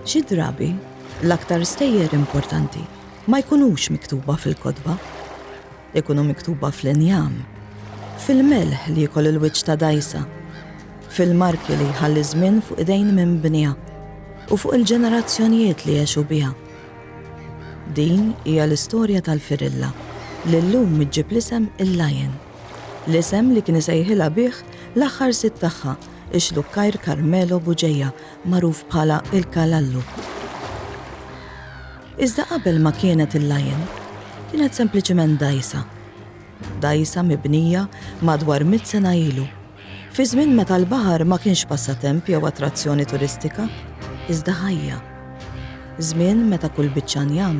Xi drabi, l-aktar stejjer importanti ma jkunux miktuba fil-kodba. Ikunu miktuba fl-injam, fil-melħ li jkoll il-wiċċ ta' dajsa, fil-marki li jħalli żmien fuq idejn minn bnija u fuq il-ġenerazzjonijiet li jexu biha. Din hija l-istorja tal-firilla li llum iġġib l-isem il-Lion. L-isem li kien isejħilha bih l-aħħar sid tagħha, ix-xlukkajr Carmelo Bugeja, magħruf bħala il-Kalallu. Iżda qabel ma kienet il-Lion, kienet sempliċiment dgħajsa. Dgħajsa mibnija madwar mitt sena ilu. Fi żmien meta l-baħar ma kienx passatemp jew attrazzjoni turistika, iżda ħajja. Żmien meta kull biċċa njam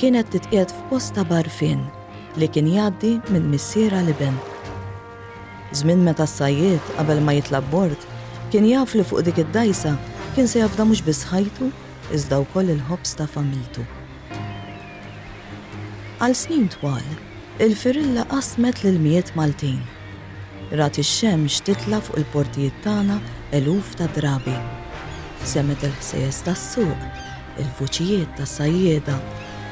kienet titqiegħed f'post ta' bgħarfien li kien jgħaddi minn missier għal iben. Żmien meta s-sajjied qabel ma jitla' bord kien jaf li fuq dik id-dgħajsa kien se jafda mhux biss ħajtu iżda wkoll il-ħobż ta' familtu. Għal snin twal, il-firilla qasmet l-ilmijiet Maltin Rat ix-xemx titla' fuq il-portijiet tagħna eluf ta' drabi. Semgħet il-ħsejjes tas-suq, il-vuċijiet tas-sajjieda,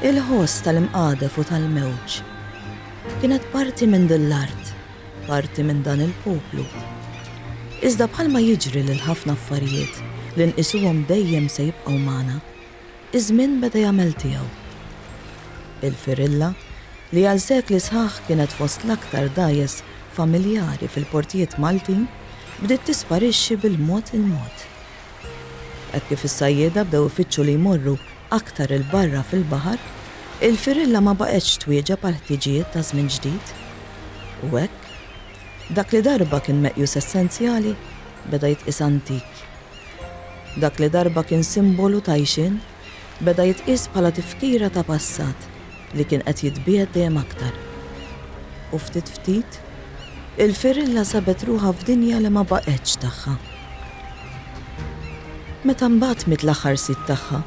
il-ħoss tal-imqadef u tal-mewġ. Kienet parti minn din l-art, parti minn dan il-poplu. Iżda bħalma jiġri lil ħafna affarijiet li nqisuhom dejjem se jibqgħu magħna, Iż-żmien beda jagħmel tiegħu. Il-Firilla, li għal sekli sħaħ kienet fost l-aktar dgħajjes familjari fil-portijiet Maltin, bdiet tisparixxi bil-mod il-mod. Hekk kif is-sajjieda bdew ifittxu li jmorru aktar 'il barra fil-baħar, il-Firilla ma baqgħetx twieġeb għall-ħtiġijiet ta' żmien ġdid. U hekk, dak li darba kien meqjus essenzjali, beda jitqies antik. Dak li darba kien simbolu ta' għixien, beda jitqies bħala tifkira ta' passat li kien qed jitbiegħed dejjem aktar. U ftit ftit, il-firilla sabet ruħha f'dinja li ma baqgħetx tagħha. Meta mbagħad miet l-aħħar sid tagħha,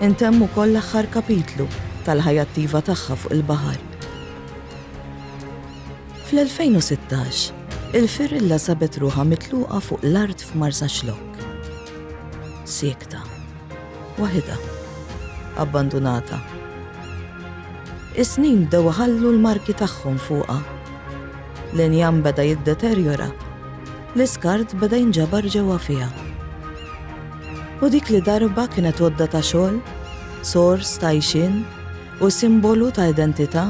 intemm ukoll l-aħħar kapitlu tal-ħajja attiva tagħha fuq il-baħar. Fl-2016, il-firilla sabet ruħha mitluqa fuq l-art f'Marsaxlokk. Siekta. Waħidha. Abbandunata. Is-snin bdew ħallu l-marki tagħhom fuqha. L-injam beda jiddeterjora. L-iskart beda jinġabar ġewwa fiha. U dik li darba kienet għodda ta' xogħol, sors ta' ixin, Hu simbolu ta' identità,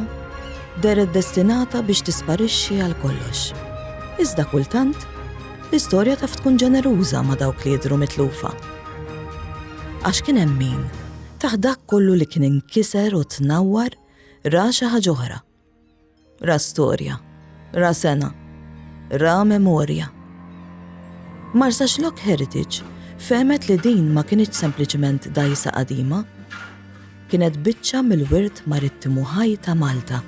dehret destinata biex tisparixxi għal kollox. Iżda kultant, l-istorja taf tkun ġeneruża ma' dawk li jidhru mitlufa. Għax kien hemm min, taħt dak kollu li kien inkiser u tnawwar, ra xi ħaġa oħra. Ra storja, ra sena, ra memorja. Marsa Xlok Heritage fehmet li din ma kinitx sempliċement dajsa qadima, kienet biċċa mill-wirt marittimu ħaj ta' Malta.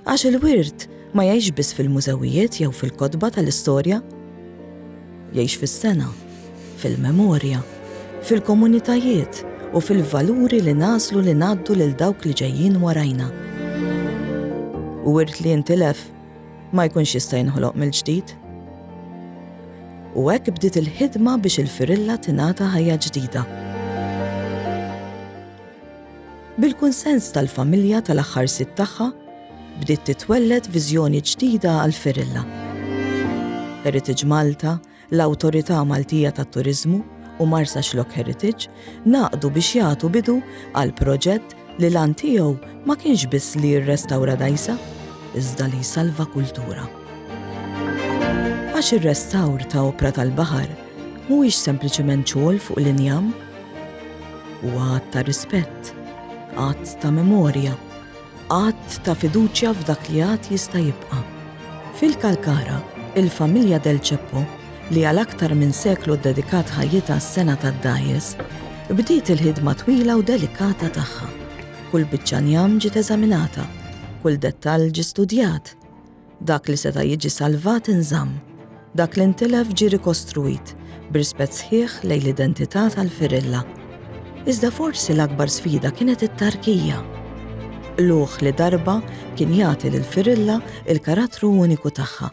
Għax il-wirt ma jgħix biss fil-mużewijiet jew fil-kotba tal-istorja. Jgħix fis-sengħa, fil-memorja, fil-komunitajiet u fil-valuri li nagħżlu li ngħaddu lil dawk li ġejjin warajna. U wirt li jintilef ma jkunx jista' jinħoloq mill-ġdid. U hekk bdiet il-ħidma biex il-Firilla tingħata ħajja ġdida. Bil-kunsens tal-familja tal-aħħar sid tagħha, bdiet titwelled viżjoni ġdida għal Firilla. Heritage Malta, l-Awtorità Maltija tat-Turiżmu u Marsaxlokk Heritage ngħaqdu biex jagħtu bidu għal proġett li l-għan tiegħu ma kienx biss li jirrestawra dgħajsa, iżda li jsalva kultura. Għax ir-restawr ta' opra tal-baħar mhuwiex sempliċement xogħol fuq l-injam, U għad ta' rispett, għad ta' memorja, għad ta' fiduċja f'dak li għad jista' jibqa'. Fil-Kalkara, il-familja Del Ceppo, li għal aktar minn seklu ddedikat ħajjitha s-sena tad-dajes, bdiet il-ħidma twila u delikata tagħha. Kull biċċa njam ġiet eżaminata, kull dettall ġie studjat. Dak li seta' jiġi salvat inżamm, dak li ntilef ġie rikostruit b'rispett sħiħ lejn l-identità tal-firilla. Iżda forsi l-akbar sfida kienet it-tarkija. Qlugħ li darba kien jagħti lil firilla il-karattru uniku tagħha,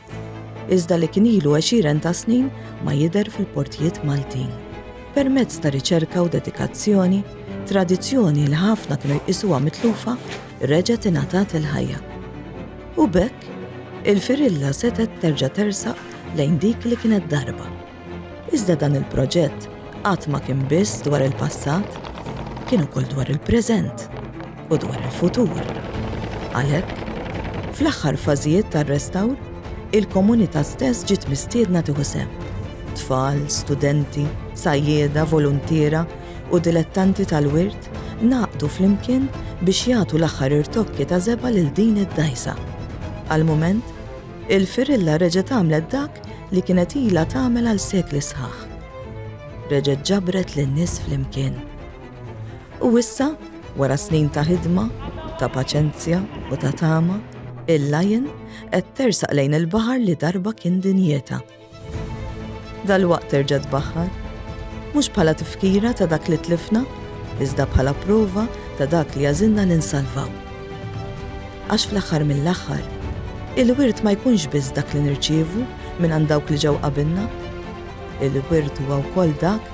iżda li kien ilu għexieren ta' snin ma jidher fil-portijiet Maltin. Permezz ta' riċerka u dedikazzjoni, tradizzjoni li ħafna kienu jqisuha mitlufa reġgħet ingħatat il-ħajja. U b'hekk, il-firilla setgħet terġa' tersaq lejn dik li kienet darba. Iżda dan il-proġett qatt ma kien biss dwar il-passat, kien ukoll dwar il-preżent u dwar il-futur. Għalhekk, fl-aħħar fażijiet tar-restawr, il-komunità stess ġiet mistiedna tieħu sehem. Tfal, studenti, sajjieda, voluntiera u dilettanti tal-wirt ngħaqdu flimkien biex jagħtu l-aħħar irtokki ta' żebgħa lil din id-dgħajsa. Għall-mument, il-firilla reġgħet għamlet dak li kienet ilha tagħmel għal sekli sħaħ. Reġgħet ġabret lin-nies flimkien. U issa, wara snin ta' ħidma, ta' paċenzja u ta' tama, il-lajn qed tersaq lejn il-baħar li darba kien dinjeta. Dalwaqt terġa' tbaħħar. Mhux bħala tifkira ta' dak li tlifna, iżda bħala prova ta' dak li għażilna li nsalvaw. Għax fl-aħħar mill-aħħar, il-wirt ma jkunx biss dak li nirċievu mingħand dawk li ġew qabilna. Il-wirt huwa wkoll dak